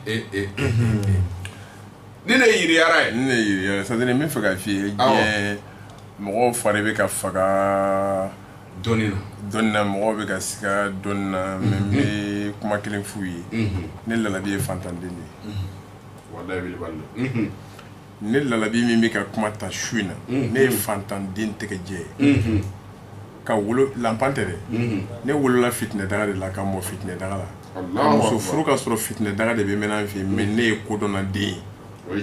ee ee ni ne yiriyara ye ne yiriyara sadiri n b'a fɛ k'a f'i ye diɲɛ mɔgɔw fari bɛ ka faga dɔnni na dɔnni na mɔgɔw bɛ ka siga dɔnni na mɛ n bɛ kuma kelen f'u ye ne lalabi ye fantanden de ye walayi wili bali ne lalabi min bɛ ka kuma ta su in na ne ye fantanden tɛgɛjɛ ye ka wolo lanpan tɛ dɛ ne wolola fitinɛ daga de la ka mɔ fitinɛ daga la muso furu ka sɔrɔ fitinɛ daga de bɛ mɛnɛ n fɛ mɛ ne ye kodɔnnaden ye o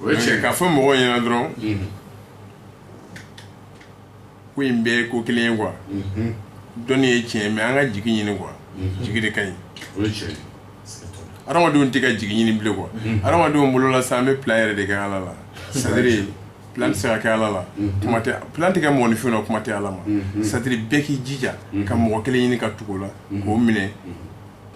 ye cɛ k'a fɔ mɔgɔ ɲɛna dɔrɔn ko in bɛɛ ko kelen ye kuwa dɔnni ye tiɲɛ mɛ an ka jigi ɲini kuwa jigi de ka ɲi adamadenw tɛ ka jigi ɲini bilen kuwa adamadenw bolola sa an bɛ plan yɛrɛ de kɛ ala la sadiri plan tɛ se ka kɛ ala la kuma tɛ plan tɛ kɛ mɔgɔninfin na kuma tɛ ala ma sadiri bɛɛ k'i jija ka mɔgɔ kelen ɲini ka tugu o la k'o minɛ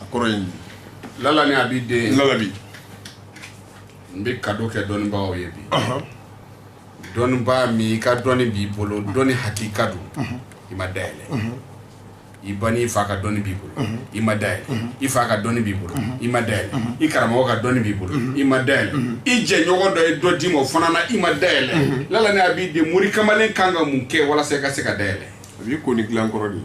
a kɔrɔ ye lala ni a b'i den labi n bɛ ka kɛ dɔnnibaa ye bi dɔnnibaa min i ka dɔnni b'i bolo dɔnni hakika don i ma da yɛlɛ i ba n'i fa ka dɔnni b'i bolo i ma da yɛlɛ i fa ka dɔnni b'i bolo i ma da yɛlɛ i karamɔgɔ ka dɔnni b'i bolo i ma da yɛlɛ i jɛɲɔgɔn dɔ ye dɔ d'i ma o fana na i ma da yɛlɛ lala ni a b'i den mori kamalen ka kan ka mun kɛ walasa i ka se ka da yɛlɛ a b'i ko ni dilankɔrɔ de ye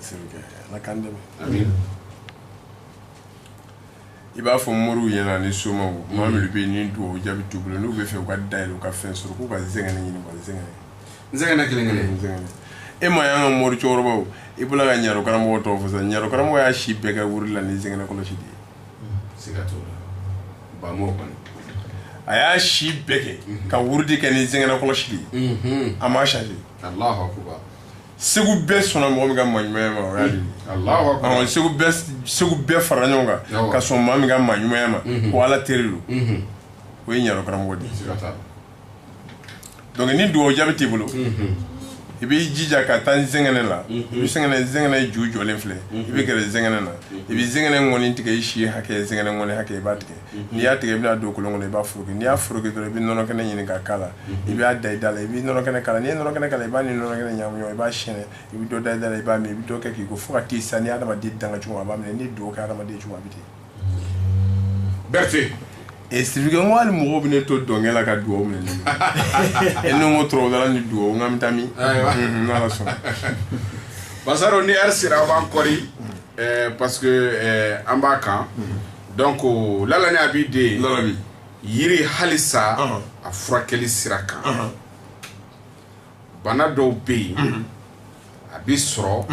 sirikɛ ala k'an dɛmɛ i b'a fɔ moriw ɲɛna ni somaw maa minnu bɛ ni dugawu jaabi t'u bolo n'u b'a fɛ u ka da yɛlɛ u ka fɛn sɔrɔ k'u ka zɛngɛnɛ ɲini ka zɛngɛnɛ zɛngɛnɛ kelen kelen zɛngɛnɛ e m'a y'an ka mori cɛkɔrɔbaw i bɔla ka ɲaro karamɔgɔ tɔgɔ fɔ sisan ɲaro karamɔgɔ y'a si bɛɛ kɛ wurudi la ni zɛngɛnɛ kɔlɔsi de ye a y'a si bɛɛ kɛ ka wurudi kɛ ni zɛngɛnɛ kɔlɔsi ye a ma sa segu bɛɛ sɔnna mɔgɔ min ka maaɲumanya ma segu bɛɛ fara ɲɔgɔn kan ka sɔn maa min ka maaɲumanya ma ko ala teri don o ye ɲaro karamɔgɔ di donc ni dugawu jaabi t'i bolo i b'i jija ka taa zɛngɛnɛ la i bɛ zɛngɛnɛ zɛngɛnɛ ju jɔlen filɛ i bɛ gɛrɛ zɛngɛnɛ na i bɛ zɛngɛnɛ ŋɔni tigɛ i si hakɛ zɛngɛnɛ ŋɔni hakɛ i b'a tigɛ n'i y'a tigɛ i bɛn'a don kolon kɔnɔ i b'a foroki n'i y'a foroki dɔrɔn i bɛ nɔnɔ kɛnɛ ɲini ka k'a la i b'a da i da la i bɛ nɔnɔ kɛnɛ k'a la n'i ye nɔnɔ kɛnɛ k'a la i b'a ni nɔnɔ kɛnɛ ɲagami ɲɔgɔn i b'a sɛnsɛn i bɛ dɔ da i da la i b'a min i bɛ dɔ kɛ k'i ko fo ka t'i sa n'i hadamaden danga cogo min a b'a minɛ n'i dugawu kɛ hadamaden cogo a bɛ ten Berete e sibike ko hali mɔgɔw bɛ ne to dɔnkɛ la ka dugawu minɛ ne ye ni ko tɔrɔda ni dugawu n ka bɛ taa min ala sɔnna basaro ni yɛrɛ sera a b'an kɔri parce an b'a kan dɔn ko la a b'i den la yiri halisa a furakɛli sira kan bana dɔw bɛ yen a bɛ sɔrɔ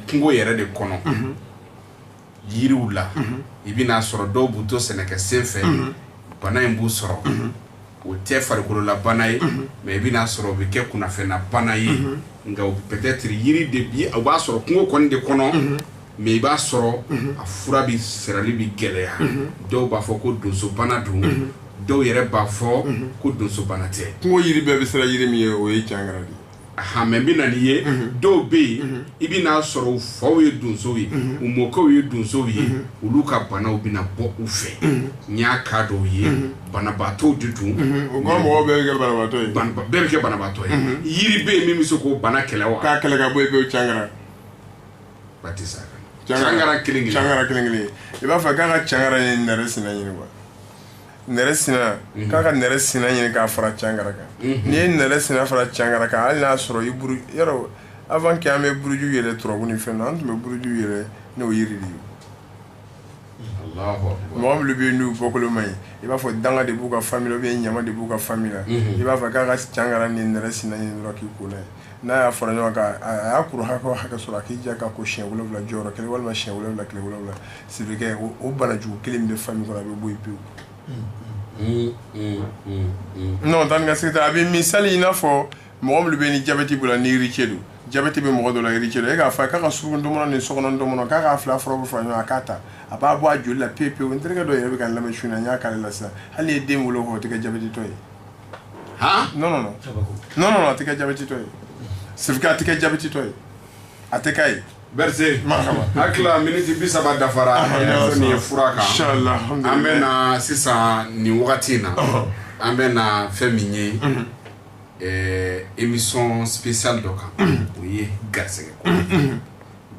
kungo yɛrɛ de kɔnɔ yiriw la i bɛna a sɔrɔ dɔw b'u to sɛnɛkɛ sen fɛ bana in b'u sɔrɔ o tɛ farikolola bana ye mais i bɛna a sɔrɔ u bɛ kɛ kunnafɛnna bana ye nka peut-être yiri de bi o b'a sɔrɔ kungo kɔni de kɔnɔ mais i b'a sɔrɔ a fura bɛ sirali bɛ gɛlɛya dɔw b'a fɔ ko donsobana don dɔw yɛrɛ b'a fɔ ko donsobana tɛ kungo yiri bɛɛ bɛ siran yiri min ɲɛ o ye cangara de ye famille bana ye dɔw bɛ yen i bɛna a sɔrɔ u faw ye donso ye u mɔkɛw ye donso ye olu ka banaw bɛna bɔ u fɛ n y'a ka dɔw ye banabaatɔ de dun mɔgɔ bɛɛ bɛ kɛ banabaatɔ ye yiri bɛ yen min bɛ se k'o bana kɛlɛ wa k'a kɛlɛ ka bɔ i cangara tɛ sa kelen kelen i b'a fɔ k'a ka cangara ni nɛrɛ sina ɲini wa nɛrɛ sina mhm. k'a ka nɛrɛ sina ɲini k'a fara cangara kan mhm. n'i ye nɛrɛ sina fara cangara kan hali n'a sɔrɔ i buru yɔrɔ avant que an bɛ buruju yɛrɛ turabu ni fɛn na an tun bɛ buruju yɛrɛ n'o yiri de ye mɔgɔ minnu bɛ yen n'u bɔkolo ma ɲi i b'a fɔ danga de b'u ka famille la ɲama de b'u ka famille la mhm. i b'a fɔ k'a ka cangara ni nɛrɛ sina ɲini dɔrɔn k'i ko n'a ye n'a y'a fara ɲɔgɔn kan a y'a kuru hakɛ o hakɛ sɔrɔ a k'i jija ka ko siɲɛ wolonwula jɔyɔrɔ kelen walima siɲɛ wolonwula tile wolonwula sibirikɛ o o banajugu kelen min bɛ famille kɔnɔ a bɛ bɔ yen pewu. non taa ni ka segin tɛ a bɛ misali i n'a fɔ mɔgɔ minnu bɛ ni jabɛti b'u la ni héritier don jabɛti bɛ mɔgɔ dɔ la héritier don e k'a fɔ a ye k'a ka suruku ntɔmɔnɔ ni sokɔnɔ ntɔmɔnɔ k'a k'a fila furaw bɛɛ fara ɲɔgɔn kan a k'a ta a b'a bɔ a joli la pewu pewu n terikɛ dɔ yɛrɛ bɛ ka n lamɛn su in na n y'a k'ale la sisan hali n'i ye den wolo o tɛ kɛ jabɛtitɔ ye. han non non non non non a tɛ kɛ jabɛtitɔ ye sefika a tɛ kɛ jabɛtitɔ ye a tɛ k'a ye Berete hakilila miniti bi saba dafara ah, nin ye fura kan an bɛ na sisan nin wagati in na an bɛ na fɛn min ye mhm. eh, émission spéciale dɔ kan mhm. o ye garisɛgɛ ko mhm.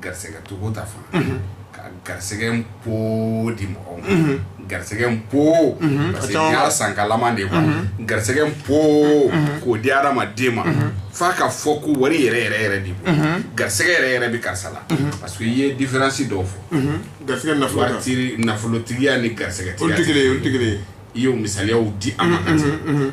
garisɛgɛ togo ta fan fɛ unhun ka garisɛgɛ n poo di mɔgɔw ma unhun garisɛgɛ n poo unhun parce que n y'a san kalaman de ye quoi unhun garisɛgɛ n poo unhun k'o di hadamaden ma unhun f'a ka fɔ ko wari yɛrɛ yɛrɛ yɛrɛ de bolo unhun garisɛgɛ yɛrɛ yɛrɛ bɛ karisa la unhun parce que i ye différence dɔw fɔ unhun garisɛgɛ nafolo kan waritigi nafolotigiya ni olu tɛ kelen ye garisɛgɛtigiya olu tɛ kelen ye i y'o misaliyaw di an ma ka unhun tigɛ unhun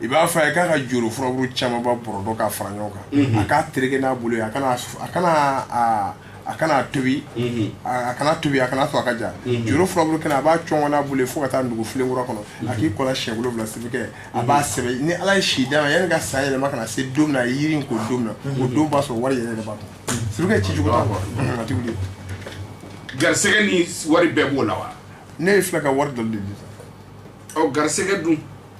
i b'a fɔ a ye k'a ka joro furaburu camanba bɔrɔdɔ k'a fara ɲɔgɔn kan mhm. a k'a tereke n'a bolo ye a kana a kana a a kana tobi mhm. a kana tobi a kana to a ka ja mhm. joro furaburu kɛnɛ a b'a cɔngɔ n'a bolo ye fo ka taa nugu filen kura kɔnɔ a k'i ko a la siɲɛ wolonwula sibikɛ a b'a sɛbɛn ni ala ye si d'a ma yanni ka san yɛlɛma ka na se don min na a ye yiri in ko don min na o don b'a sɔrɔ wari yɛrɛ de b'a kɔnɔ sibikɛ ci cogo t'a kɔ a ti wuli garisɛgɛ ni wari bɛɛ b'o la wa ne ye filɛ ka wari dɔ de di ɔ garisɛgɛ dun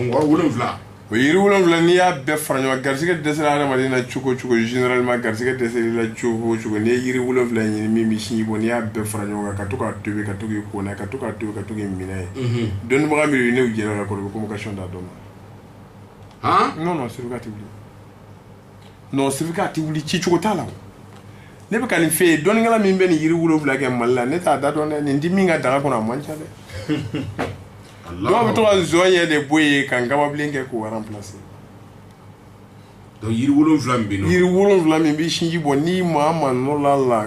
wolonwula o yiri wolonwula n'i y'a bɛɛ fara ɲɔgɔn garisɛgɛ dɛsɛ adamaden na cogo cogo ma garisɛgɛ dɛsɛla cogo cogo n'i ye yiri wolonwula ɲini min bɛ sinji bɔ n'i y'a bɛɛ fara ɲɔgɔn kan ka to k'a tobi ka to k'i ko ka to ka to ka dɔ min ne ye dɔnnibaga min ne jɛra ka convocation da dɔ ma non non siri ka tɛ wuli non sefika a tɛ wuli ci cogo t'a la ne bɛ ka nin fɛ yen dɔnnikɛla min bɛ nin yiri wolonwula kɛ mali la ne t'a da dɔn dɛ nin di min ka daga kɔnɔ a man ca dɛ dɔw bɛ to ka nsɔɲɛ de bɔ yen ka nkababilen kɛ k'o remplacer donc yiri wolonwula min bɛ yen nɔ yiri wolonwula min bɛ sinji bɔ n'i maa maa nɔ la la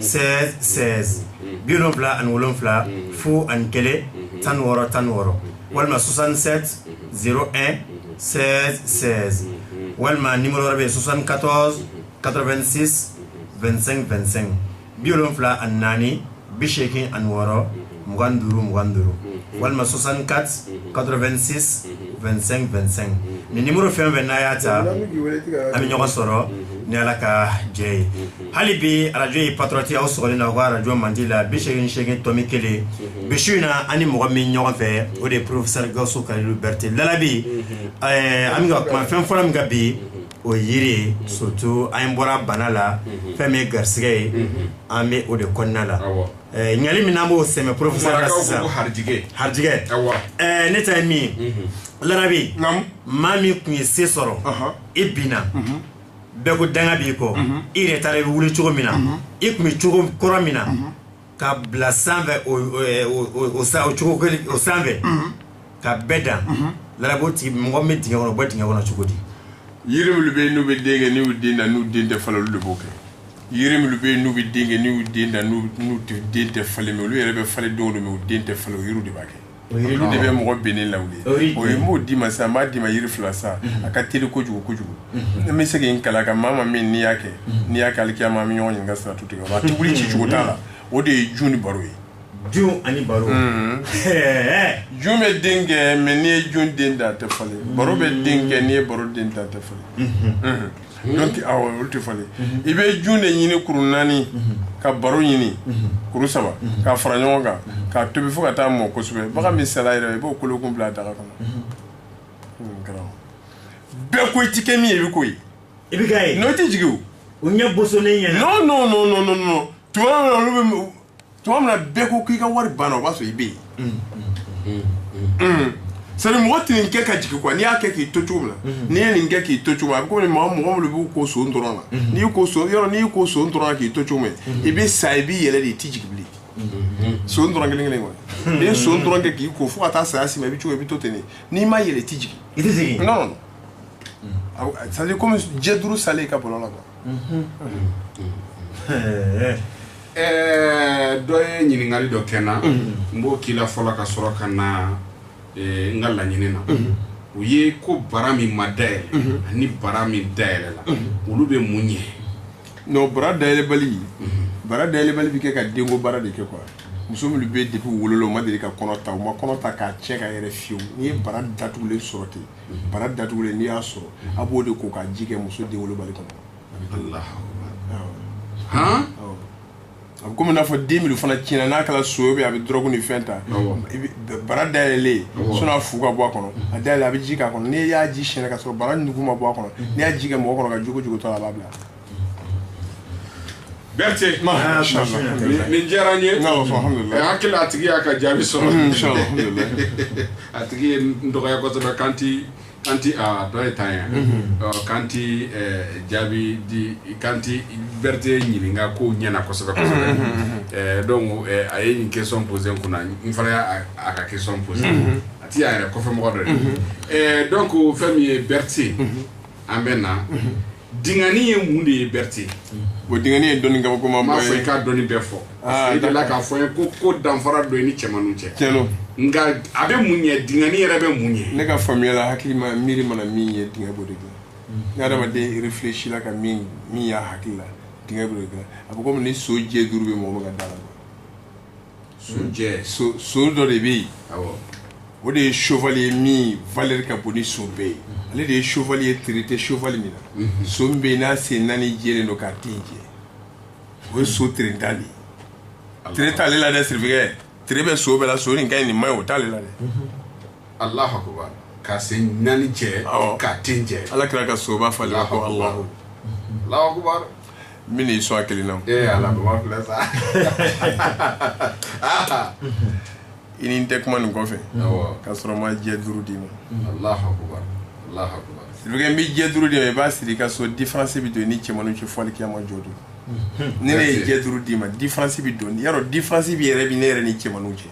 sɛsɛsɛbila ani wolonwula fu ani kɛlɛ tan wɔɔrɔ tan wɔɔrɔ walima susansɛ z sɛ sɛ walima ni yɔrɔ bɛ susan katɔ kato2si2sɛn2sɛn bi wolonwula ani naani bi seeki ani wɔɔrɔ mugan duuru mugan duuru walima soixante-quatorze quatre-vingt-six vingt-cinq vingt-cinq nin nimɔrɔ fɛn fɛn n'a y'a ta a bɛ ɲɔgɔn sɔrɔ ni ala ka jɛ ye hali bi arajo ye patriote aw sɔrɔ na o ko arajo mandi la bi segin ni segin tɔmi kelen emisiyɔn in na an ni mɔgɔ min ɲɔgɔn fɛ o de ye porofesɛri gawusu ka berete labi an bɛ ka kuma fɛn fɔlɔ min kan bi o yiri sotu an bɔra bana la fɛn min ye garisɛgɛ ye an bɛ o de kɔnɔna la Eh, ɲali min n'an b'o sɛmɛ professeur la Marakaw ko sisan ko harijigɛ. harijigɛ Awɔ. Eh, ne ta ye min ye larabi Naamu. maa min tun ye se sɔrɔ Ɔhɔ. i binna bɛɛ ko danga b'i kɔ i yɛrɛ taara i bɛ wuli cogo min na i tun bɛ cogo kɔrɔ min na ka bila sanfɛ o- o- o- o- o sa- o cogo kelen- o sanfɛ ka bɛɛ dan la mɔgɔ bɛ d kɔnɔ bɛ d kɔnɔ cogo di yiri minnu bɛ yen n'u bɛ den kɛ n'u den da n'u den tɛ falen olu de b'o kɛ yiri minnu bɛ yen n'u bɛ den kɛ n'u den da n'u den tɛ falen olu yɛrɛ bɛ falen denw min u den tɛ falen yiri de b'a kɛ olu de bɛ mɔgɔ bɛn ne la ye b'o d'i ma sa b'a d'i ma yiri fila sa a ka teri kojugu kojugu ne bɛ se in kala ka maa ma min n'i y'a kɛ n'i y'aaleya maa min ɲɔgɔn ɲini ka sira tu tigɛ a tugu ci cogo t'a la o de ye jun ni baro ye Jun ani baro jun bɛ den kɛ mɛ n'i ye jun den dan a tɛ falen baro bɛ den kɛ n'i ye baro den dan a tɛ falen olu tɛ falen i bɛ jun de ɲini kuru naani ka baro ɲini kuru saba ka fara ɲɔgɔn kan k'a tobi fo ka taa mɔ kosɛbɛ bagan min sa i b'o kolo kun bila a daga kɔnɔ bɛɛ ko i tɛ kɛ min i bɛ ko i bɛ n'o tɛ jigin o ɲɛ bo ɲɛ tu olu tuma min na bɛɛ ko k'i ka wari banna o b'a sɔrɔ i bɛ yen sani mɔgɔ tɛ nin kɛ ka jigin kuwa n'i y'a kɛ k'i to cogo min na n'i ye nin kɛ k'i to cogo a bɛ komi mɔgɔ mɔgɔ minnu b'u ko son dɔrɔn na n'i ko son yɔrɔ n'i ko son dɔrɔn k'i to cogo min i bɛ sa i b'i yɛlɛ de i tɛ jigin bilen son dɔrɔn kelen kelen kɔni n'i ye son dɔrɔn kɛ k'i ko fo ka taa saya si ma i bɛ cogo i bɛ to ten n'i ma yɛlɛ i tɛ jigin i tɛ jigin non non c'est à dire komi jɛ duuru salen i ka bɔlɔ la kuwa Dɔ ye ɲininkali dɔ kɛ n na n b'o k'i la fɔlɔ ka sɔrɔ ka na n ka laɲini na o ye ko bara min ma da yɛlɛ ani bara min da yɛlɛla olu bɛ mun ɲɛ n'o bara da yɛlɛbali bara da yɛlɛbali bɛ kɛ ka denko baara de kɛ kuwa muso minnu bɛ den wolo u ma deli ka kɔnɔta u ma kɔnɔta k'a cɛn ka yɛrɛ fiyewu n'i ye bara datugulen sɔrɔ ten bara datugulen n'i y'a sɔrɔ a b'o de ko k'a ji kɛ muso den wolobali kɔnɔ a bɛ komi n'a fɔ den min fana tiɲɛna n'a kɛra so bɛ a bɛ dɔrɔgu ni fɛn ta bara dayɛlɛlen sɔnni a fu ka bɔ a kɔnɔ a dayɛlɛ a bɛ ji k'a kɔnɔ n'i y'a ji siyɛn ka sɔrɔ bara nugu ma bɔ a kɔnɔ n'i y'a ji kɛ mɔgɔ kɔnɔ ka jogo jogo tɔ a b'a bila Berete nin diyara n ye n hakili la a tigi y'a ka jaabi sɔrɔ a tigi ye n dɔgɔya kosɛbɛ ko an tɛ dɔ ye tan yan k'an tɛ jaabi di k'an tɛ berete ɲininka ko ɲɛna kosɛbɛ kosɛbɛ donc a ye nin question poser kunna n fana y'a a ka question poser a tɛ y'a yɛrɛ kɔfɛmɔgɔ dɔ don donc fɛn min ye berete an bɛ na Dengani ye mun de ye Berete? O dengani ye dɔnni kabakoman ye. N b'a fɛ i k'a dɔnni bɛɛ fɔ. Aa d'accord. I delila k'a fɔ n ye ko ko danfara dɔ ye ni cɛmanninw cɛ. Tiɲɛ don. Nka a bɛ mun ɲɛ? Dengani yɛrɛ bɛ mun ɲɛ? Ne ka faamuya la hakili ma miiri mana min ye denga b'o de dilan. Unhun. Ni adamaden réfléchila ka min min y'a hakili la denga b'o de dilan. A bɛ komi ni so jɛ duuru bɛ mɔgɔ min ka da la. so dɔ de bɛ yen o de ye sovali ye min valeur ka bon ni so bɛɛ ye ale de ye sovali ye tere tɛ sovali min na so min bɛ yen n'a sen naani jɛlen don k'a ten jɛ o ye so terentan de ye tere t'ale la dɛ sirikɛ tere bɛ so bɛɛ la so nin ka ɲi nin man ɲi o t'ale la dɛ alahakuba ka se naani cɛ ka den cɛ ala kira ka soba fa la min y'i sɔn kelen na ee ala filɛ sa i ni n tɛ kuma nin kɔfɛ ka sɔrɔ n ma jɛ duuru d'i ma alahakuba alahakuba sirikɛ n bɛ jɛ duuru d'i ma i b'a siri ka so diferansi bɛ don i ni cɛmanninw cɛ fo alikiyama jɔ don ni ne ye jɛ duuru d'i ma diferansi bɛ don yɔrɔ diferansi bɛ yɛrɛ bɛ ne yɛrɛ ni cɛmanninw cɛ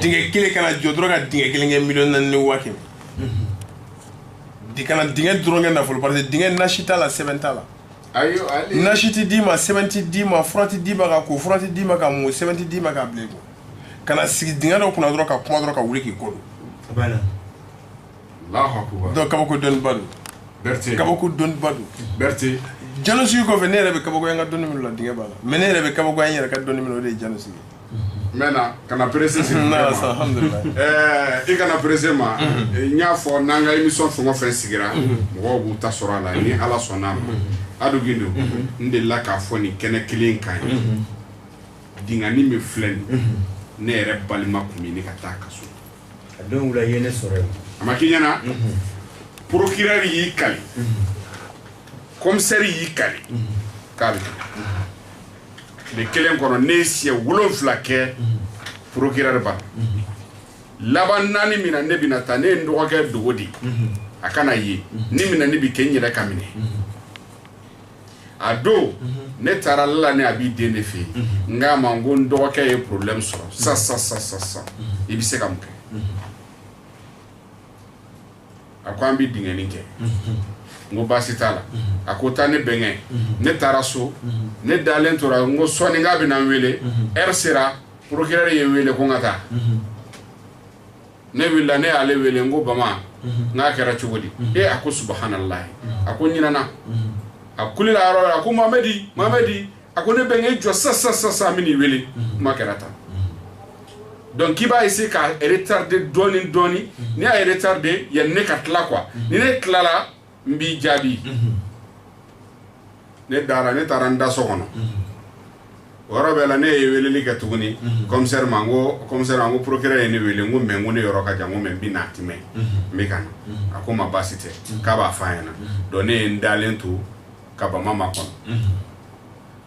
Dingɛ kelen ka na jɔ dɔrɔn ka dingɛ kelen kɛ mi ni waati di ka na dingɛ dɔrɔn kɛ nafolo parce dingɛ nasi t'a la sɛbɛn t'a la nasi tɛ d'i ma sɛbɛn tɛ d'i ma fura tɛ d'i ma ka ko fura tɛ d'i ma ka mun sɛbɛn tɛ d'i ma ka bilen ka na sigi dingɛ dɔ kunna dɔrɔn ka kuma dɔrɔn ka wuli k'i kɔ don dɔn kabako dɔnniba don berete kabako dɔnniba don berete janosigi kɔfɛ ne yɛrɛ bɛ kabako an ka dɔnni minnu la dingɛ b'a la mais ne yɛrɛ bɛ kabako an yɛrɛ ka dɔnni minnu o de ye janosigi maintenant kana perese sigi n nana sa alhamdulilayi ɛɛ i kana perese ma n y'a fɔ n'an ka émission fɛn o fɛn sigira mɔgɔw b'u ta sɔrɔ a la ni ala sɔnna amadu gindo n delila k'a fɔ nin kɛnɛ kelen kan ye dingɛnin min filɛ nin ne yɛrɛ balima kun bɛ ɲini ka taa kaso a don wula ye ne sɔrɔ yen a ma k'i ɲɛna procureur y'i kali commissaire y'i kali k'a bɛ tile kelen kɔnɔ ne ye siɲɛ wolonfila kɛ procureur bara laban naani min na ne bɛna taa ne ye n dɔgɔkɛ dogo di a kana ye ni minɛni bɛ kɛ n yɛrɛ ka minɛ a don ne taara la ni a b'i den de fɛ yen n ko a ma n ko n dɔgɔkɛ ye porobilɛmi sɔrɔ sa sa sa sa sa i bɛ se ka mun kɛ a ko an bɛ dingɛnin kɛ n ko baasi t'a la a ko taa ne bɛnkɛ ne taara so ne dalen tora n ko sɔɔni k'a bɛ na n wele ɛri sera porokirɛri ye n wele ko n ka taa ne wulila ne y'ale wele n ko bama n ko a kɛra cogo di e a ko subahanallahi a ko ɲinana a kulila yɔrɔ la a ko mamadi mamadi a ko ne bɛnkɛ i jɔ sa sa sa sa min'i wele kuma kɛra tan donc k'i b'a essayer ka retarder dɔɔni dɔɔni n'i y'a retarder yanni ne ka tila quoi ni ne tilala n b'i jaabi ne dara ne taara n da so kɔnɔ o yɔrɔ bɛɛ la ne ye weleli kɛ tuguni kɔmisɛri ma ko kɔmisɛri n ko porokirɛri ye ne wele n ko mɛ ko ne yɔrɔ ka jan ko mɛ n bɛna tɛmɛ n bɛ ka na a ko ma baasi tɛ k'a b'a fɔ a ɲɛna dɔn ne ye n dalen to ka bama makɔnɔ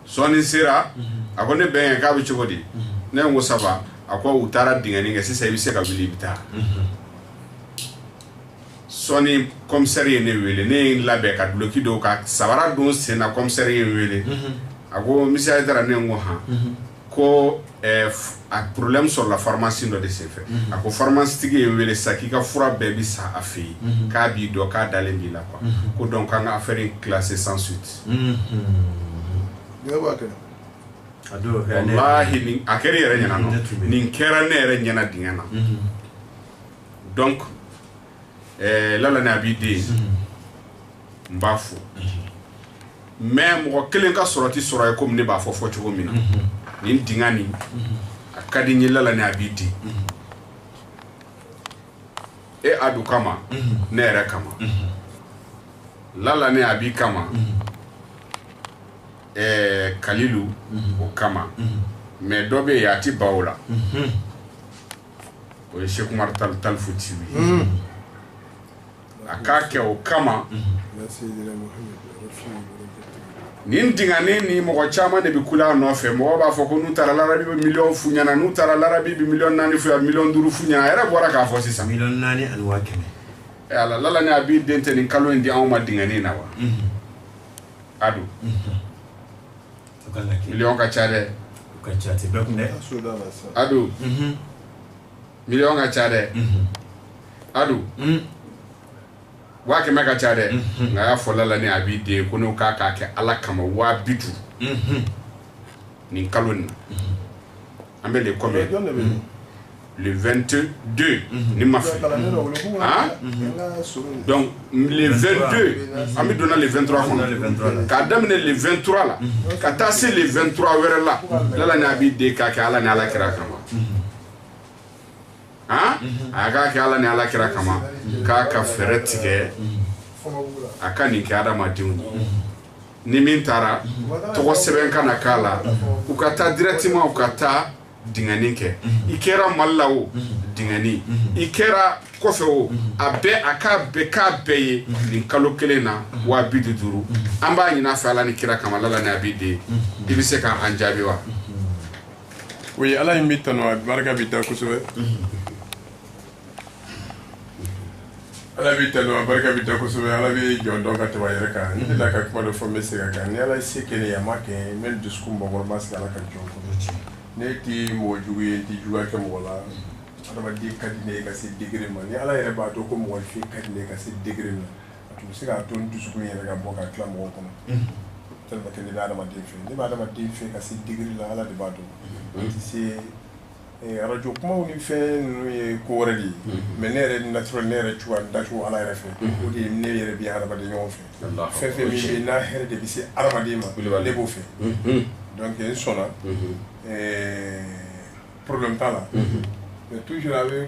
sɔɔni sera a ko ne bɛnkɛ k'a bɛ cogo di ne ko ça va a ko u taara dingɛnin kɛ sisan i bɛ se ka wuli i bɛ taa sɔɔni kɔmsɛri ye ne wele ne ye labɛn ka duloki don ka sabara don sen na kɔmsɛri ye wele a ko misiye taara ne ko hɔn ko a porobilɛmu sɔrɔla faramasitigi dɔ de senfɛ a ko faramasitigi ye wele sa k'i ka fura bɛɛ bɛ san a fɛ yen k'a b'i dɔn k'a dalen b'i la ko dɔnki an ka afɛri kilase san suwiti a a kɛra yɛrɛ ɲɛna nin kɛra ne yɛrɛ ɲɛna dingɛ na dɔnki ɛɛ la a b'i den n b'a fɔ mɛ mɔgɔ kelen ka sɔrɔ tɛ sɔrɔ ye komi ne b'a fɔ fɔ cogo min na nin dingɛnin a ka di n ye la ni a b'i di e adu kama ne yɛrɛ kama la ni a b'i kama ɛɛ kalilu o kama mɛ dɔ bɛ yen a tɛ baw la o ye sekuri tan tan fu ci ye a k'a kɛ o kama nin dingɛnin in mɔgɔ caman de bɛ kule a nɔfɛ mɔgɔ b'a fɔ ko n'u taara larabu bɛ miliyɔn f'u ɲɛna n'u taara larabu bɛ miliyɔn naani fɔ miliyɔn duuru f'u ɲɛna a yɛrɛ bɔra k'a fɔ sisan naani alala a b'i den tɛ nin kalo in di anw ma dingɛnin na wa adu miliyɔn ka ca dɛ ka ca a tɛ bɛɛ kun dɛ adu miliyɔn ka ca dɛ adu waa kɛmɛ ka ca dɛ nka y'a fɔ lala ni a b'i den ko n'o k'a k'a kɛ ala kama waa bi duuru nin kalo nin na an bɛ le combien 22 don ni n ma fili an bɛ donna le 23 kɔnɔ k'a daminɛ le 23 la ka taa se le 23 wɛrɛ la ala ni a bɛ den k'a kɛ ala ni ala kira kama a k'a kɛ ala ni ala kira kama k'a ka fɛɛrɛ tigɛ a ka nin kɛ adamadenw ni min taara tɔgɔ sɛbɛn ka na k'a la u ka taa directement u ka taa dingɛnin kɛ i kɛra mali la o dingɛnin i kɛra kɔfɛ o a bɛɛ a ka bɛɛ ka bɛɛ ye nin kalo kelen na waa bi duuru an b'a ɲini a fɛ ala ni kira kama lala ni a bɛ den i bɛ se k'an jaabi wa o ye ala in bɛ tanu a barika bɛ da kosɛbɛ ala b'i tanu a barika bɛ da kosɛbɛ ala bɛ jɔn dɔn ka tɛmɛ a yɛrɛ kan ne la ka kuma dɔ fɔ n bɛ se ka kan ni ala ye se kɛ ne ye a ma kɛ n bɛ n dusukun mɔgɔ ma se ala ka jɔn kɔnɔ ne tɛ mɔgɔ jugu ye n tɛ juguya kɛ mɔgɔ la adamaden ka di ne ye ka se degere ma ni ala yɛrɛ b'a dɔn ko mɔgɔfin ka di ne ye ka se degere ma a tun bɛ se k'a to n dusukun yɛrɛ ka bɔ ka tila mɔgɔ kɔnɔ tellement que ne bɛ adamaden fɛ ne bɛ adamaden fɛ ka se degere la ala de b'a dɔn n tɛ se Arajo kuma ni fɛn ninnu ye ko wɛrɛ de ye mɛ ne yɛrɛ natiri ne yɛrɛ cogoya dacogo ala yɛrɛ fɛ o de ye ne yɛrɛ bɛ hadamaden ɲɔgɔn fɛ fɛn fɛn min n'a hɛrɛ de bɛ se hadamaden ma ne b'o fɛ dɔnku n sɔnna porobulɛmu t'a la mɛ tuzuru a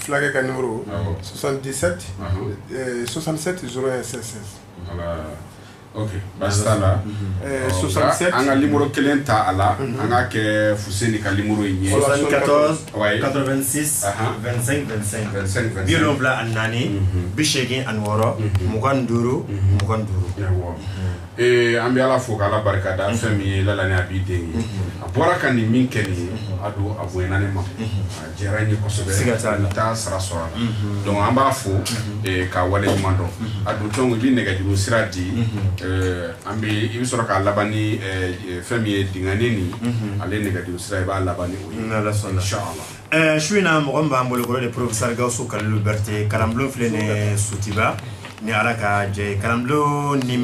Fulakɛ ka nimɔrɔ swasantidisɛti swasantidisɛti s swasantidisɛti an ka nimɔrɔ kelen ta a la an k'a kɛ Fuseni ka nimɔrɔ in ye bi wolonwula ani naani bi seegin ani wɔɔrɔ mugan ni duuru mugan ni duuru Ee an bɛ ala fo k'a barika da an fɛn min ye lala a b'i den ye a bɔra ka nin min kɛ nin ye a don a bonyara an ma a diyara an ye kosɛbɛ taa sara sɔrɔ a la dɔnku an b'a fo k'a wale ɲuman dɔn a don tɔn i bɛ nɛgɛjuru sira di an ma i bɛ sɔrɔ k'a laban ni fɛn min ye dani nin ale nɛgɛjuru sira i b'a laban n'o ye insala Ɛɛ su in na mɔgɔ min b'an bolokɔrɔ de porosari gaso kalo berete kalanbu filɛ ni sutiba ni ala ka jɛ kalanbu ni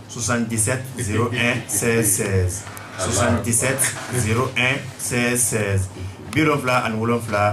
susan kisɛ z sɛ sɛ susan kisɛ z sɛ sɛ bifila ani wolonwula